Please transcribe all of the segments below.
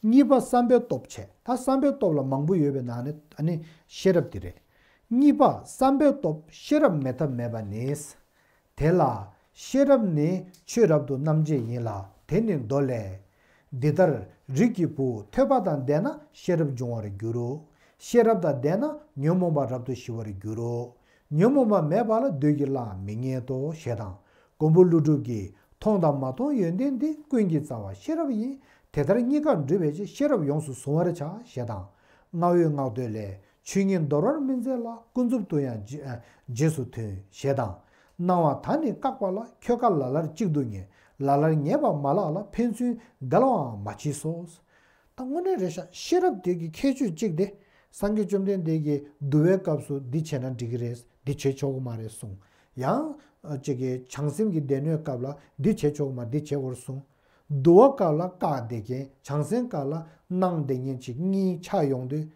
གཉིས་པ་བསམ་པའི་སྟོབས་ཆེ་ད་བསམ་པའི་སྟོབས་ལ་མང་པོ་ཡོད་པའི་ནང་ནས་ད་ནི་ཤེས་རབ་དེ་རེད། གཉིས་པ་བསམ་པའི་སྟོབས་ཤེས་རབ་མེད་ཐབས་མེད་པ་ནི། དེ་ལ། ཤེས་རབ་ནི་ཆོས་རབ་ཏུ་རྣམ་འབྱེད་ཡིན་ལ་དེ་ནི་མདོ་ལས། འདི་ལྟར་རིགས་ཀྱི་བུ་ཐོས་པ་དང་ལྡན་ན་ཤེས་རབ་འབྱུང་བར་འགྱུར་རོ། ཤེས་རབ་དང་ལྡན་ན་ཉོན་མོངས་པ་རབ་ཏུ་ཞི་བར་འགྱུར་རོ། ཉོན་མོངས་པ་མེད་པ་ལ་བདུད་ཀྱིས་བརླག་མི་རྙེད་དོ་ཞེས་དང། མགོན་པོ་ཀླུ་སྒྲུབ་ཀྱིས་མཐོང་དང་མ་མཐོང་ཡོན་ཏན་འདི་ཀུན་གྱི་རྩ་བ་ཤེས་རབ་ཡིན། དེ་ལྟར་གཉིས་ཀར་འདུས་པའི་ཕྱིར་ཤེས་རབ་ཡོངས་སུ་གཟུང་བར་བྱ་ཞེས་དང། བསྔགས་འོས་བསྔགས་བསྟོད་ལས་ཆོས་ཉིད་འདོར་བར་སྨིན་མཛད་ལ་ཀུན་རྫོབ་ཏུ་ཡང་རྗེས་སུ་མཐུན་ཞེས་དང། སྣང་བ་ད་ནི་བཀག་པ་ལ་ཁྱོད་དགའ་ལ་ལར་གཅིག་ཏུ་ངེས་ལ་ལར་ངེས་པར་མ་ལགས་ལ་ཕན་ཚུན་འགལ་བའང་མ་མཆིས་སོ། ད་དངོས་གནས་རེད་ཤག་ཤེས་རབ་དེ་གི་ཁྱད་ཆོས་གཅིག་དེ་སངས་རྒྱས་བཅོམ་ལྡན་འདས་ཀྱི་བསྡུ་བའི་སྐབས་སུ་འདི་བྱས་ན་འགྲིག་གི་རེད་འདི་བྱེད་ཆོག་གི་མ་རེད་གསུངས། ཡང། ཅིག་གི་བྱང་སེམས་ཀྱི་སྡེ་སྣོད་སྐབས་ལ་འདི་བྱེད་ཆོག་གི་མ་འདི་བྱེད་དགོས་གསུངས། བསྡུ་བ་སྐབས་ལ་བཀག་བསྡད་མཁན་བྱང་སེམས་སྐབས་ལ་སྣང་བསྡད་མཁན་གཅིག་གཉིས་ཆགས་ཡོང་དུས།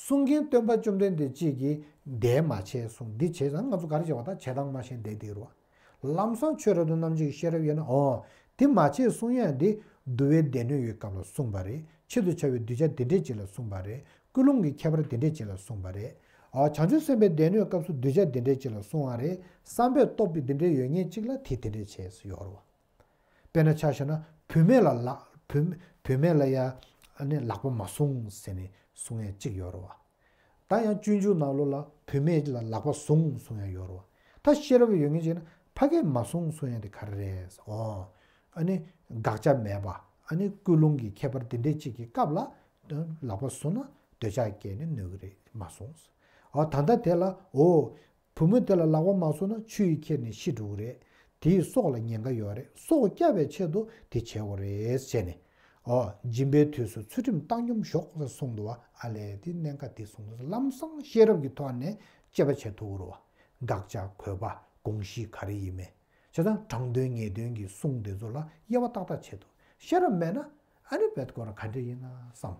གསུང་མཁན་སྟོན་པ་བཅོམ་ལྡན་འདས་གཅིག་གིས་འདས་མ་བྱས་གསུངས་འདི་བྱས་ཙང་ང་ཚོ་གར་བྱས་པ་དང་བྱས་སྟངས་མ་ཤེས་བསྡད་དེ་རུ་བ། ལམ་བཟང་ཆོས་རབ་ཏུ་རྣམ་འབྱེད་ཀྱི་ཤེས་རབ་ཡོད་ན་འོང། དེ་མ་བྱས་གསུང་དབྱངས་དེ་བསྡུ་བའི་སྡེ་སྣོད་ཡོད་སྐབས་ལ་གསུངས་པ་རེད་ཆེད་དུ་བྱ་བའི་གདུལ་བྱ་དེ་འདྲས་ཅིག་ལ་གསུངས་པ་རེད་ཀུན་སློང་གི་ཁྱད་པར་དེ་འདྲས་ཅིག་ལ་གསུངས་པ་རེད། བྱང་ཆུབ་སེམས་དཔའི་སྡེ་སྣོད་སྐབས་སུ་གདུལ་བྱ་དེ་འདྲས་ཅིག་ལ་གསུངས་བ་རེད་བསམ་པའི་སྟོབས་ཀྱིས་དེ་འདྲས་ཡོད་ངེས་གཅིག་ལ་དེ་དེ་འདྲས་བྱས་སུ་ཡོད་རོ། དཔེར་ན་ཆ་ཤས་ན་བུད་མེད་ལ་ལ་བུད་མེད་ལ་ཡང་ནི་ལག་པ་མ་བཟུང་ཟེར་ནས་གསུང་ཡང་གཅིག་ཡོད་རོ། ད་ཡང་སྤྱོད་འཇུག་ནག་ལོ་ལ་བུད་མེད་ལ་ལག་པ་བཟུང་གསུང་ཡང་ཡོད་རོ། ད་ཤེས་རབ་ཡོད་ངེས་ཅིག་ན་ཕ་གས་མ་གསུང་གསུང་ཡང་དེ་ག་རེ་རེད། ཨོ། ཨཱ་ནི། དགག་བྱ་མེད་པ། ཨཱ་ནི་ཀུན་སློང་གི་ཁྱད་པར་འདི་འདྲས་ཅིག་གི་སྐབས་ལ། ལག་པ་བཟུང་ན་འདོད་ཆགས་སྐྱེས་ནས་ནོར་གི་རེད་མ་གསུང། ཨོ། ད་ལྟ་དེ་ལ་ཨོ། བུ་མོ་དེ་ལ་ལག་པ་མ་ཚུགས་ན་ཆུ་ཡིས་ཁྱེར་ནས་ཤི་འགྲོ་གི་རེད། དེའི་སྲོག་ལ་ཉེན་ཁ་ཡོད་རེད་སྲོག་བསྐྱབས་པའི་ཆེད་དུ་དེ་བྱས་བ་རེད་བྱས་ནས། ཨོ། སྦྱིན་པའི་དུས་སུ་ཚུལ་ཁྲིམས་བཏང་སྙོམས་ཞོག་ཟེར་གསུངས་འདུག་བ་ཨ་ལས་དེ་གནད་འགག་དེ་གསུངས་འདུག་ལམ་སང་ཤེས་རབ་ཀྱི་ཐོག་ནས་དཔྱད་པ་བྱེད་ཐུབ་རུང་བ། དགག་བྱ་གོད་པ་དགོངས་གཞི་ག་རེ་ཡིན་མིན་བྱས་ཙང་དྲང་དོན་ངེས་དོན་གྱི་གསུང་དེ་ཚོ་ལ་དབྱེ་བ་ཏག་ཏག་བྱེད་ཐུབ་ཤེས་རབ་མེད་ན་ཨ་རི་བས་སྐོར་ག་འདྲ་ཡིན་ན་བསམས།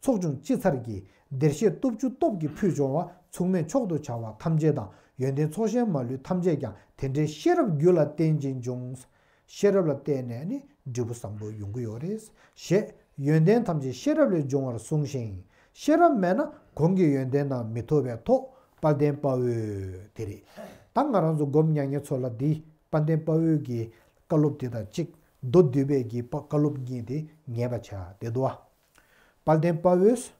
ཚོགས་ཆུང་སྤྱི་ཚར་གྱིས་བདེར་གཤེགས་སྟོབས་བཅུ་སྟོབས་ཀྱི་ཕུད་འབྱུང་བ་མཚུངས་མེད་མཆོག་ཏུ་བྱ་བ་ཐམས་ཅད་དང་ཡོན་ཏན་ཚོགས་གཞན་མ་ལུས་ཐམས་ཅད་ཀྱང་དེ་འདྲའི་ཤེས་རབ་རྒྱུད་ལ་བརྟེན་ཅིང་འབྱུང། ཤེས་རབ་ལ་བརྟེན་ནས་ནི་འབྲས་བུ་བཟང་པོ་ཡོང་གི་ཡོད་རེད། ཞེས་ཡོན་ཏན་ཐམས་ཅད་ཤེས་རབ་ལས་འབྱུང་བར་གསུངས་ཤིང། ཤེས་རབ་མེད་ན་གོང་གི་ཡོན་ཏན་དང་མི་ཐོབ་པས་ཐོག་དཔའ་བརྟན་དཔའ་བོའི་དེ་རེད། ད་ང་རང་ཚོ་སྒོམ་མྱ་ངན་ཚོ་ལ་འདི་དཔའ་བརྟན་དཔའ་བོའི་གི་བཀའ་སློབ་དེ་དང་གཅིག་མདོ་བསྡུས་པའི་གི་བཀའ་སློབ་གཉིས་དེ་ངེས་པ་བྱ་བདེ་འདུག་ཨ། དཔལ་ལྡན་དཔའ་བོས།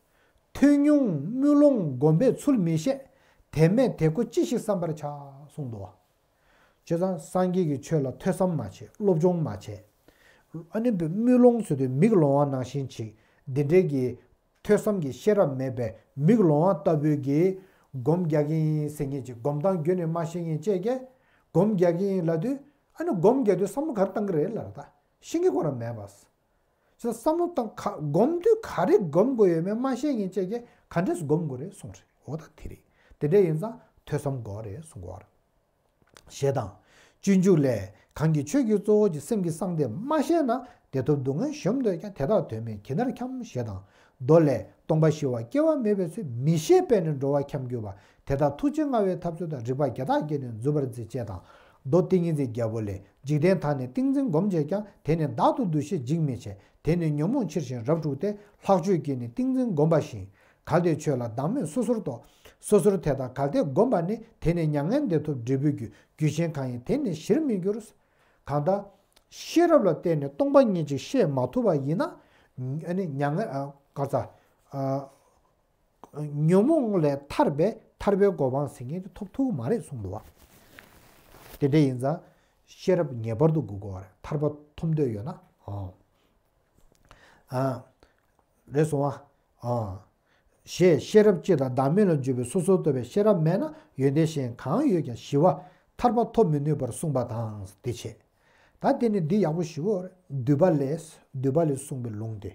ཐོས་ཉུང་དམུས་ལོང་བསྒོམ་པས་ཚུལ་མི་ཤེས། དེ་མེད་དེ་ཁོ་ཅི་ཞིག་བསམ་པར་བྱ། གསུངས་སྡོ། ཁྱོད་རང་སངས་རྒྱས་ཀྱི་ཆོས་ལ་ཐོས་བསམ་མ་བྱས་སློབ་སྦྱོང་མ་བྱས། ཨ་ནི་དམུས་ལོང་ཟེར་དུས་མིག་ལོང་བ་ནང་བཞིན་བྱེད། འདི་འདྲའི་གི། ཐོས་བསམ་གྱི་ཤེས་རབ་མེད་པའི་མིག་ལོང་བ་ལྟ་བུའི་གི། སྒོམ་རྒྱག་གིན་ཟེར་ངེས་ཀྱི་སྒོམ་སྟངས་རྒྱུད་ནས་མ་ཤེས་ངེས་དཔྱད་ཀྱི། སྒོམ་རྒྱག་གིན་ལབ་དུས། ཨ་ནི་སྒོམ་རྒྱག་དུས་བསམ་བློ་གར་བཏང་གི་རེད་ལ་ད། ཤེས་ཀྱི་གོ་ར་མེད་པ། ཚོས་བསམ་བློ་བཏང་ག་སྒོམ་དུས་ག་རེ་སྒོམ་དགོས་ཡོད་མེད་མ་ཤེས་ངེས་བཅས་ཀྱི་ག་འདྲས་སུ་སྒོམ་དགོས་རེད་གསུངས་རེད་འོ་ད་དེ་རེད་དེ་འདྲས་ཡིན་ཙང་ཐོས་བསམ་དགོས་རེད་གསུངས་གོ་རེད། ཞེས་དང། སྤྱོད་འཇུག་ལས་གང་གིས་ཆོས་ཀྱི་གཙོ་བོ་གྱི་སེམས་ཀྱི་གསང་སྟེ་མ་ཤེས་ན་བདེ་ཐོབ་སྡུག་བསྔལ་གཞོམ་འདོད་ཀྱང་དེ་དག་དོན་མེད་གྱི་མཐར་འཁྱམ་ཞེས་དང། མདོ་ལས་སྟོང་པ་ཞི་བ་སྐྱེ་བ་མེད་པའི་ཚུལ་མི་ཤེས་པས་ནི་འགྲོ་བ་འཁྱམ་གྱུར་པ་དེ་དག་ཐུགས་རྗེ་མངའ་བའི་ཐབས་ཚུལ་དང་རིགས་པ་བརྒྱ་ཐག་བསྐྱེད་ནས་འཛུད་པར་མཛད་ཅེས་དང། མདོ་ཏིང་ངེ་འཛིན་བརྒྱད་པོ་ལས་འཇིག་རྟེན་དག་ནི་ཏིང་འཛིན་བསྒོམ་བྱེད་ཀྱང་དེ་ནི་བདག་ཏུ་འདུ་ཤེས་འཇིག་མི་བྱེད་དེ་ནི་ཉོན་མོངས་ཕྱིར་ཞིང་རབ་འཁྲུགས་ཏེ་ལྷག་སྤྱོད་ཀྱིས་ནི་ཏིང་འཛིན་བསྒོམ་པ་བཞིན། གལ་ཏེ་ཆོས་ལ་བདག་མེད་སོ་སོར་རྟོག། སོ་སོར་དེ་དང་གལ་ཏེ་བསྒོམ་པ་ནི་དེ་ནི་མྱ་ངན་འདས་ཐོབ་འབྲས་བུའི་རྒྱུ་རྒྱུ་ཆེན་གང་ཡིན་དེ་ནི་གཞིར་མི་འགྱུར། གང་ལྟར། ཤེས་རབ་ལ་བརྟེན་ནས་སྟོང་པ་ཉིད་ཅིག་ཤེས་མ་ཐུབ་པ་ཡིན་ན། མྱ་ངན། གར་ཚ། ཉོན་མོངས་ལས་ཐར་པའི་ཐར་པའི་གོ་འཕང་ཟིན་མཁན་དེ་ཐོབ་ཐུག་གི་མ་རེད་གསུངས་འདུག་བ། དེ་འདྲ་ཡིན་ཙང་ཤེས་རབ་ངེས་པར་དུ་དགོས་དགོས་བ་རེད་ཐར་པ་ཐོབ་འདོད་ཡོད་ན། རེད་གསུངས་བ། ཞེས་ཤེས་རབ་སྤྱི་དང་བདག་མེད་ལ་འཇུག་པའི་སོ་སོར་རྟོག་པའི་ཤེས་རབ་མེད་ན་ཡོན་ཏན་གཞན་གང་ཡོད་ཀྱང་ཞི་བ་ཐར་པ་ཐོབ་མི་ནུས་པར་གསུངས་པ་དང་དེ་ཆད། ད་དེ་ནི་འདི་ཡག་པོ་ཞུ་བོ་རེད་འདུས་པ་ལས་གསུངས་པའི་ལུང་དེ།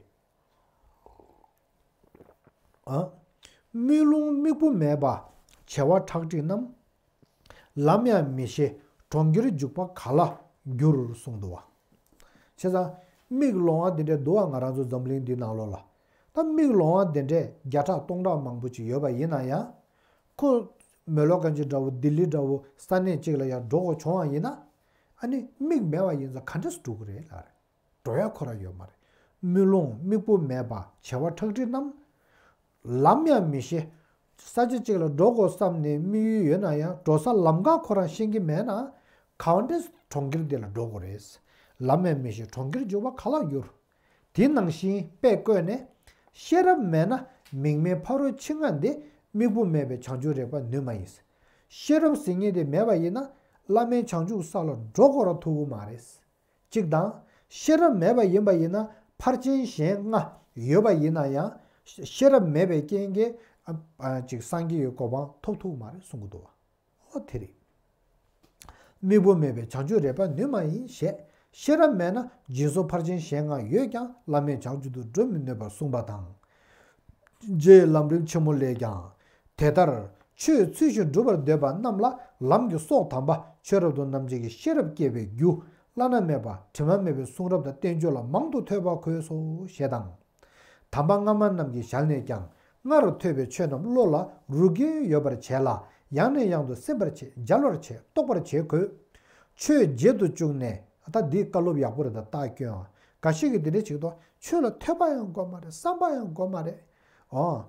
དམུས་ལོང་དམིགས་བུ་མེད་པ། བྱེ་བ་ཁྲག་ཁྲིག་རྣམས། ལམ་ཡང་མི་ཤེས་གྲོང་ཁྱེར་འཇུག་པ་ག་ལ་འགྱུར་གསུངས་འདུག་བ། བྱས་ཙང་དམིགས་ལོང་བ་དེ་འདྲའི་འདུག་བ་ང་རང་ཚོ་འཛམ་གླིང་འདི་ནང་ལོགས་ལ་ད་དམིགས་ལོང་བ་དེ་འདྲས་བརྒྱ་ཕྲག་སྟོང་ཕྲག་མང་པོ་ཅིག་ཡོད་པ་ཡིན་ན་ཡང། ཁོ། མོ་ལོ་ཀན་ཅི་འདྲ་བོ་ལྡི་ལི་འདྲ་བོ་ས་གནས་གཅིག་ལ་ཡང་འགྲོ་དགོས་བྱུང་བ་ཡིན་ན། ཨ་ནི་དམིགས་མེད་བ་ཡིན་ཙང་ག་འདྲས་སུ་འགྲོ་གི་རེད་ལགས། འགྲོ་ཡ་འཁོར་ར་ཡོད་མ་རེད། དམུས་ལོང་དམིགས་བུ་མེད་པ་བྱེ་བ་ཁྲག་ཁྲིག་རྣམས། ལམ་ཡང་མི་ཤེས། ས་ཆ་གཅིག་ལ་འགྲོ་དགོས་བསམ་ནས་དམིགས་ཡུལ་ཡོད་ན་ཡང་འགྲོ་ས་ལམ་གང་ཁོ་རང་ཤེས་ཀྱི་མེད་ན། གང་འདྲས་གྲོང་ཁྱེར་འདི་ལ་འགྲོ་དགོས་རེད། ལམ་ཡང་མི་ཤེས་གྲོང་ཁྱེར་འཇུག་པ་ག་ལ་འགྱུར། དེ་ནང་བཞིན་དཔེ་བཀོད་ནས། ཤེས་རབ་མེད་ན་མིག་མེད་ཕ་རོལ་ཕྱིན་སྔ་འདི་དམིགས་བུ་མེད་པའི་བྱང་ཆུབ་རེག་པ་ནུས་མ་ཡིན། ཤེས་རབ་ཟིན་ངེས་དེ་མེད་པ་ཡིན་ན་བླ་མའི་བྱང་ཆུབ་ས་ལ་འགྲོ་དགོས་ར་ཐུག་གི་མ་རེད། གཅིག་དང། ཤེས་རབ་མེད་པ་ཡིན་པ་ཡིན་ན་ཕར་ཕྱིན་གཞན་ལྔ་ཡོད་པ་ཡིན་ན་ཡང་ཤེས་རབ་མེད་པའི་རྐྱེན་གྱིས་སངས་རྒྱས་ཀྱི་གོ་འཕང་ཐོབ་ཐུག་མ་རེད་གསུང་གི་འདུག་བ། དེ་རིགས་དམིགས་བུ་མེད་པའི་བྱང་ཆུབ་རེད་པ་ནུས་མ་ཡིན་ཞེས་ཤེས་རབ་མེད་ན་སྦྱིན་སོགས་ཕར་ཕྱིན་གཞན་ལྔ་ཡོད་ཀྱང་བླ་མེད་བྱང་ཆུབ་ཏུ་འགྲོ་མི་ནུས་པར་གསུངས་པ་དང། རྗེའི་ལམ་རིམ་ཆེན་མོ་ལས་ཀྱང། དེ་ལྟར་ཆོས་ཚུལ་བཞིན་སྒྲུབ་པར་འདོད་པ་རྣམས་ལ་ལམ་གྱི་སྲོག་དམ་པ་ཆོས་རབ་ཏུ་རྣམ་འབྱེད་ཀྱི་ཤེས་རབ་བསྐྱེད་པའི་རྒྱུ་བླ་ན་མེད་པ་དྲི་མ་མེད་པའི་གསུང་རབ་དང་བསྟན་བཅོས་ལ་མང་དུ་ཐོས་པ་གོས་སོ་ཞེས་དང། དམ་པ་སྔ་མ་རྣམས་ཀྱི་ཞལ་ནས་ཀྱང་སྔ་རུ་ཐོས་པའི་ཆོས་རྣམས་བློ་ལ་རུ་དགེ་ཡོད་པར་བྱས་ལ་ཡང་ནས་ཡང་དུ་སེམས་པར་བྱེད་སྦྱར་བར་བྱེད་རྟོགས་པར་བྱེད་གོས། ཆོས་བརྗེད་དུ་བཅུག་ནས་ད་འདི་བཀའ་སློབ་ཡག་པོ་རེད་ད་ལྟ་ཁྱོད་འགའ་ཞིག་གིས་འདི་འདྲ་བྱེད་དོ། ཆོས་ལ་ཐོས་པ་ཡང་གོ་མ་རེད་བསམ་པ་ཡང་གོ་མ་རེད། འོ།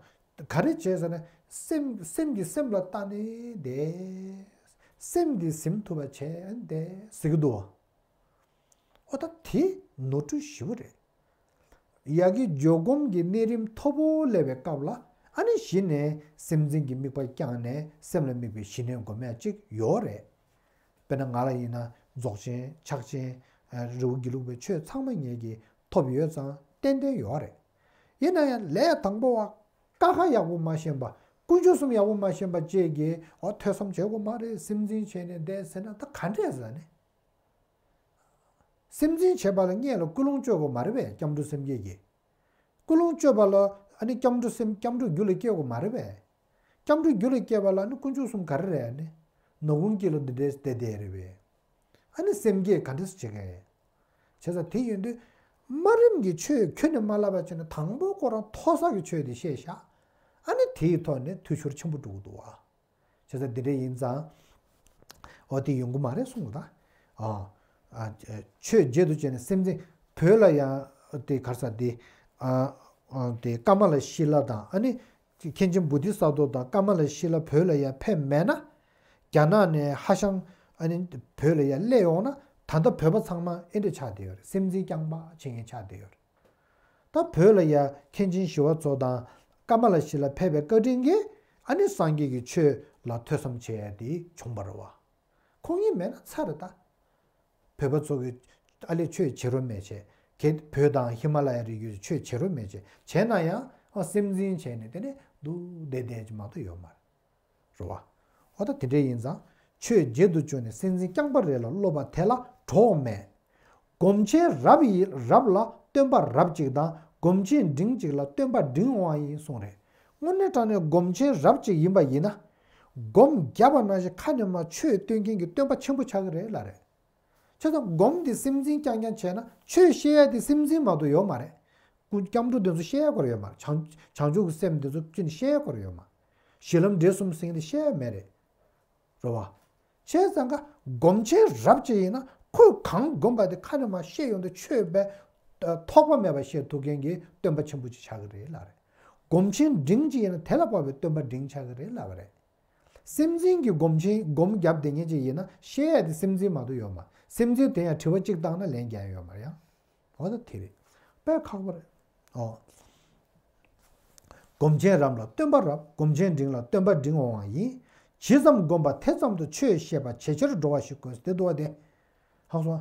ག་རེ་བྱེད་ཟེར་ན། སེམས་སེམས་ཀྱིས་སེམས་ལ་ལྟ་ནས་བསྡད། སེམས་ཀྱིས་སེམས་ཐུབ་པ་བྱས་བསྡད་ཟེར་གྱི་འདུག་བ། ཨོ་ད་དེ་ནོར་འཁྲུལ་ཞི་བོ་རེད། ཡ་གི་འཇོག་སྒོམ་གྱི་གནས་རིམ་མཐོ་པོ་སླེབས་པའི་སྐབས་ལ་ཨ་ནི་གཞི་ནས་སེམས་ཅན་གྱི་དམིགས་པ་བསྐྱངས་ནས་སེམས་ལ་དམིགས་པའི་ཞི་གནས་སྒོམ་ཡ་གཅིག་ཡོའོ་རེད། དཔེར་ན་ང་ལ་ཡིན་ན་རྫོགས་ཆེན་ཕྱག་ཆེན། རི་བོ་དགེ་ལུགས་པའི་ཆོས་ཚང་མ་ངེད་ཀྱིས་ཐོབ་ཡོད་ཙང་ཏན་ཏན་ཡོད་རེད། ཡིན་ན་ཡང་ལས་དང་པོ་བ་དཀའ་ཁག་ཡག་པོ་མ་ཤེས་པ་དཀོན་མཆོག་གསུམ་ཡག་པོ་མ་ཤེས་པ་བཅས་ཀྱིས་འོ་ཐོས་བསམ་བྱེད་དགོས་མ་རེད་སེམས་འཛིན་བྱས་ནས་བསྡད་ཟེར་ན་ད་ག་འདྲས་ཟེར་ནས། སེམས་འཛིན་བྱེད་པ་ལ་བསྙད་ལ་སྐུལ་སློང་བཅོས་དགོས་མ་རེད་པས་སྐྱབས་འགྲོ་སེམས་བསྐྱེད་ཀྱིས། ཀུན་སློང་སྤྱོད་པ་ལ་ནི་སྐྱབས་འགྲོ་སེམས་སྐྱབས་འགྲོ་རྒྱུ་ལ་སྐྱེ་བ་མ་རེད་པས། སྐྱབས་འགྲོ་རྒྱུ་ལ་སྐྱེ་བ་ལ་ནི་དཀོན་མཆོག་གསུམ་ག་རེ་རེད་ཨ་ནི། ནོར་ཀུན་སྐྱེ་ལོ་འདི་འདྲའི་དེ་དེ་རེད་པས། ཨ་ནི་སེམས་བསྐྱེད་ག་འདྲ་སུ་བྱེད་མཁན་ཡིན། བྱེད་ས་དེ་ཡོད་དུས། དམའ་རིམ་གྱི་ཆོས་ཁྱོད་ནས་མ་བསླབས་པ་ཆོས་ནི་དང་པོ་ཁོ་རང་མཐོ་ས་གི་ཆོས་དེ་ཤེས་བཞག་ཨ་ནི་དེའི་ཐོག་ནས་ཐུགས་ཤོར་ཆེན་པོ་འགྲོ་གི་འདུག་བ། བྱས་ཙང་འདི་འདྲ་ཡིན་ཙང། འོ་དེ་ཡོང་གི་མ་རེད་གསུངས་པ་དང། ཆོས་བརྒྱད་དུ་བྱས་ནས་སེམས་ཅན་བོད་ལ་ཡང་དེ་གར་ས་དེ། དེ་ཀརྨ་ལ་ཤཱི་ལ་དང་ཨ་ནི། མཁན་ཆེན་བུ་ཏི་ས་རྡོ་དང་ཀརྨ་ལ་ཤཱི་ལ་བོད་ལ་ཡང་ཕེབས་མེད་ན། རྒྱ་ནག་ནས་ཧ་ཤང་ཨ་ནི་བོད་ལ་ཡང་སླེབས་ཡོང་ན་ད་ལྟ་བོད་པ་ཚང་མ་ཨེ་འདྲ་ཆགས་བསྡད་ཡོད་རེད་སེམས་ཅན་རྐྱང་པ་བྱེད་མཁན་ཆགས་བསྡད་ཡོད་རེད། ད་བོད་ལ་ཡ་མཁན་ཆེན་ཞི་བ་འཚོ་དང་ཀ་མ་ལ་ཤི་ལ་ཕེབས་པའི་བཀའ་དྲིན་གྱིས་ཨ་ནི་སངས་རྒྱས་ཀྱི་ཆོས་ལ་ཐོས་བསམ་བྱས་ཏེ་བྱུང་བར་བ། ཁོང་གཉིས་མེད་ན་ཚར་རེ་ད། བོད་པ་ཚོ་གི་ཨ་ལས་ཆོས་བྱེད་རོ་མེད་བྱེད་གལ་ཏེ་བོད་དང་ཧི་མ་ལ་ཡ་རི་རྒྱུད་ཆོས་བྱེད་རོ་མེད་བྱེད་བྱས་ན་ཡང་སེམས་འཛིན་བྱས་ནས་དེ་ནས་འདུག་བསྡད་བསྡད་ཀྱི་མ་གཏོགས་ཡོད་མ་རེད། རེད། རེད་བ། འོ་ད་དེ་འདྲ་ཡིན་ཙང། ཆོས་བརྒྱད་དུ་བཅུག་ནས་སེམས་ཅན་རྐྱང་པ་རེ་ལ་སློབ་པ་དེ་ལ་གྲོགས་མེད། སྒོམ་ཆེན་རབ་ཡིན་རབ་ལ་སྟོན་པ་རབ་གཅིག་དང་སྒོམ་ཆེན་འབྲིང་གཅིག་ལ་སྟོན་པ་འབྲིང་དབང་ཡིན་གསུངས་རེད། དངོས་གནས་དྲང་ནས་སྒོམ་ཆེན་རབ་གཅིག་ཡིན་པ་ཡིན་ན། སྒོམ་བརྒྱ་པ་ནང་བཞིན་ཁ་ནས་མ་ཆོས་སྟོན་མཁན་གྱི་སྟོན་པ་ཆེན་པོ་ཆགས་ཀྱི་རེད་ལ་རེད། ཆོས་དང་སྒོམ་དེ་སེམས་ཅན་རྐྱང་རྐྱང་བྱས་ན་ཆོས་བཤད་ཡ་དེ་སེམས་ཅན་མ་གཏོགས་ཡོད་མ་རེད། སྐུ་སྐྱབས་འགྲོ་དེ་ཚོ་བཤད་ཡ་སྐོར་ཡོད་མ་རེད། བྱང་ཆུབ་ཀྱི་སེམས་དེ་ཚོ་བཅུ་ནི་བཤད་ཡ་སྐོར་ཡོད་མ། གཞི་ལམ་འབྲས་གསུམ་སྲིང་འདི་བཤད་མེད་རེད། རོ་བ། བྱས་ཙང་ཀ་སྒོམ་བྱས་རབ་བྱས་ཡིན་ན་ཁོས་གང་བསྒོམས་པ་དེ་ཁ་ནས་མ་བཤད་ཡོང་དུ་ཆོས་པས་ཐོགས་པ་མེད་པ་བཤད་ཐུབ་མཁན་གྱི་སྟོན་པ་ཆེན་པོ་ཅིག་ཆགས་ཀྱི་རེད་ལབ་རེད། སྒོམ་ཆེན་འབྲིང་ཅིག་ཡིན་ན་དེ་ལ་དཔའ་བའི་སྟོན་པ་འབྲིང་ཆགས་ཀྱི་རེད་ལབ་རེད། སེམས་ཅན་གྱི་སྒོམ་ཆེན་སྒོམ་རྒྱབ་བདེ་ཉེ་ཅིག་ཡིན་ན་བཤད་དེ་སེམས་ཅན་མ་གཏོགས་ཡོད་མ་སེམས་ཅན་དེ་ཡང་དྲི་བ་གཅིག་བཏང་ན་ལན་བརྒྱ་ཡོད་མ་ཡང། ཨོ་ན་དེ་རེད། དཔལ་ཁག་པ་རེད། ཨོ། སྒོམ་ཆེན་རབ་ལ་སྟོན་པ་རབ་སྒོམ་ཆེན་འབྲིང་ལ་སྟོན་པ་འབྲིང་འོང་བ་ཡིན། ཇི་ཙམ་བསྒོམ་པ་དེ་ཙམ་དུ་ཆོས་ཤེས་པ་ཇེ་ཆེར་འགྲོ་བ་ཞིག་དགོས་ཏེ་དོ་དེ། ཧང་སང།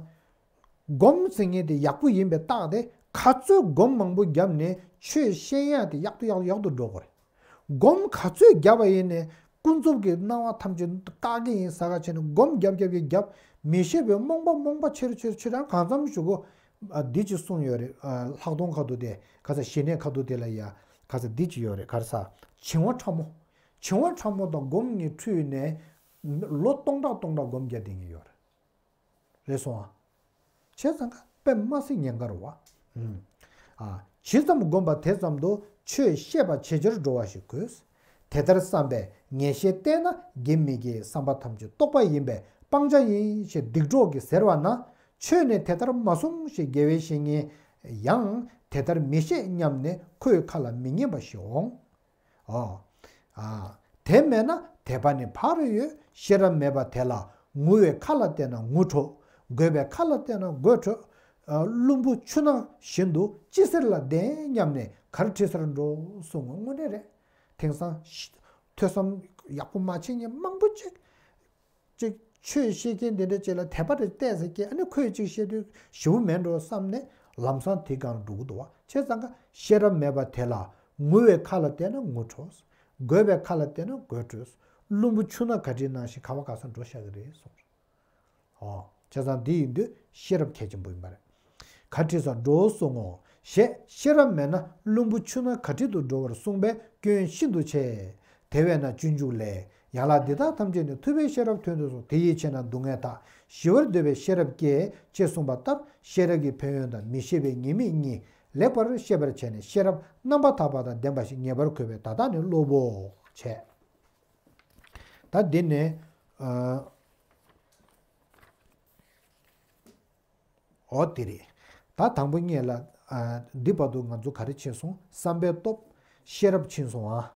སྒོམ་ཟེར་ངེས་དེ་ཡག་པོ་ཡིན་པའི་རྟགས་དེ་ག་ཚོད་སྒོམ་མང་པོ་བརྒྱབ་ནས་ཆོས་ཤེས་ཡག་དེ་ཡག་ཏུ་ཡག་ཏུ་ཡག་ཏུ་འགྲོ་དགོས་རེད། སྒོམ་ག་ཚོད་བརྒྱབ་པ་ཡིན་ནས་ཀུན་རྫོབ་ཀྱི་སྣང་བ་ཐམས་ཅད་བཀག་གི་ཡིན་ས་ག་བྱས་ནས་སྒོམ་བརྒྱབ་བརྒྱབ་ཀྱི་བརྒྱབ་མི་ཤེས་པའི་རྨོངས་པ་རྨོངས་པ་ཆེར་ཆེར་ཆེ་གྲང་གང་འཚམ་བཞུགས་གོ། འདི་ཅིག་གསུངས་ཡོད་རེད་ལྷག་མཐོང་ཁ་དུ་དེ་ག་ས་ཞི་གནས་ཁ་དུ་དེ་ལ་ཡ་ག་ས་འདི་ཅིག་ཡོད་རེད་གར་ས་བྱིང་བ་ཕྲ་མོ། བྱིང་བ་ཕྲ་མོ་དང་སྒོམ་གཉིས་འཁྲུལ་ནས། ལོ་སྟོང་ཕྲག་སྟོང་ཕྲག་སྒོམ་བརྒྱབ་བསྡད་ཀྱི་ཡོད་རེད། རེ་སོང་བ། བྱས་ཙང་ཁ་དཔེ་མ་སྲིད་ཉེན་ཁར་བ། ཇི་ཙམ་བསྒོམ་པ་དེ་ཙམ་དུ་ཆོས་ཤེས་པ་ཇེ་ཆེར་འགྲོ་བ་ཞིག་དགོས། དེ་ལྟར་བསམ་པས་ངེས་ཤེས་བརྟན་ན་དགེ་མི་དགེའི་བསམ་པ་ཐམས་ཅད་རྟོགས་པ་ཡིན་པས་སྤང་བྱ་ཡིན་ཞེས་སྡིག་གྲོགས་ཀྱིས་ཟེར་བ་ན་ཆོས་ནི་དེ་ལྟར་མ་གསུང་ཞེས་དགེ་བའི་བཤེས་གཉེན་ཡང་དེ་ལྟར་མི་བཤད་སྙམ་ནས་ཁོའི་ཁ་ལ་མི་ཉན་པ་ཞིག་འོང། ཨོ། དེ་མེད་ན་དད་པ་ནི་ཕ་རོལ་ཡོད་ཤེས་རབ་མེད་པ་དེ་ལ་ངུ་བའི་ཁ་ལ་བལྟས་ན་ངུ་འཕྲོ། རྒོད་པའི་ཁ་ལ་བལྟས་ན་རྒོད་འཕྲོ། བླུན་པོ་ཆུ་ནང་བཞིན་དུ་ཅི་ཟེར་ལ་བདེན་སྙམ་ནས་གར་ཁྲིད་སར་འགྲོ་གསུང་ངོ་དངོས་གནས་རེད། དེང་སང། ཐོས་བསམ་ཡག་པོ་མ་བྱས་ནས་མང་པོ་ཅིག། གཅིག་ཆོས་ཤེས་མཁན་དེ་འདྲ་བྱས་ལ་དད་པ་རེ་བརྟས་ཟེར་གྱི་ཨ་ནི་ཁོས་གཅིག་བཤད་དུས་ཞེ་བོ་མེད་འགྲོ་བསམ་ནས་ལམ་སང་དེ་གང་འགྲོ་གི་འདུག་བ་ཆེ་ཙང་ཁ་ཤེས་རབ་མེད་པ་དེ་ལ་ངུ་བའི་ཁ་ལ་བལྟས་ན་ངུ་འཕྲོས། དགོད་པའི་ཁ་ལ་བལྟས་ན་དགོད་འཕྲོས། བླུན་པོ་ཆུ་ནག་ག་དྲིས་ནང་བཞིན་ག་བ་ག་ས་འགྲོ་ཤག་གི་རེད་གསུངས། ཨོ། བྱས་ཙང་འདི་ཡིན་དུས་ཤེས་རབ་གལ་ཆེན་པོ་ཡིན་པ་རེད། གར་ཁྲིད་སར་འགྲོའོ་གསུང་ངོ། ཞེས་ཤེས་རབ་མེད་ན་བླུན་པོ་ཆུ་ན་གར་ཁྲིད་དུ་འགྲོ་བར་གསུངས་པས་སྐྱོན་ཤིན་ཏུ་ཆེ། དེ་བས་ན་སྤྱོད་འཇུག་ལས། ཡན་ལག་འདི་དག་ཐམས་ཅད་ནི་ཐུབ་པའི་ཤེས་རབ་ཐོན་དུ་གསུངས་དེ་ཡིད་ཆེས་ན་སྡུག་བསྔལ་དག་ཞི་བར་འདོད་པའི་ཤེས་རབ་སྐྱེ། ཅེས་གསུངས་པ་ལྟར་ཤེས་རབ་ཀྱི་ཕན་ཡོན་དང་མི་ཤེས་པའི་ཉེས་དམིགས་གཉིས་ལེགས་པར་ཤེས་པར་བྱས་ནས་ཤེས་རབ་རྣམ་པར་དག་པ་དང་ལྡན་པ་ཞིག་ངེས་པར་གོ་བས་ད་ལྟ་ནི་སློབ་བོ། བྱས། ད་འདི་ནས། འོ་དེ་རེད། ད་དང་པོ་རྙེད་ལ། འདི་བར་དུ་ང་ཚོ་ག་རེ་བྱས་སོང་བསམ་པའི་སྟོབས། ཤེས་རབ་ཕྱིན་སོང་ཨ།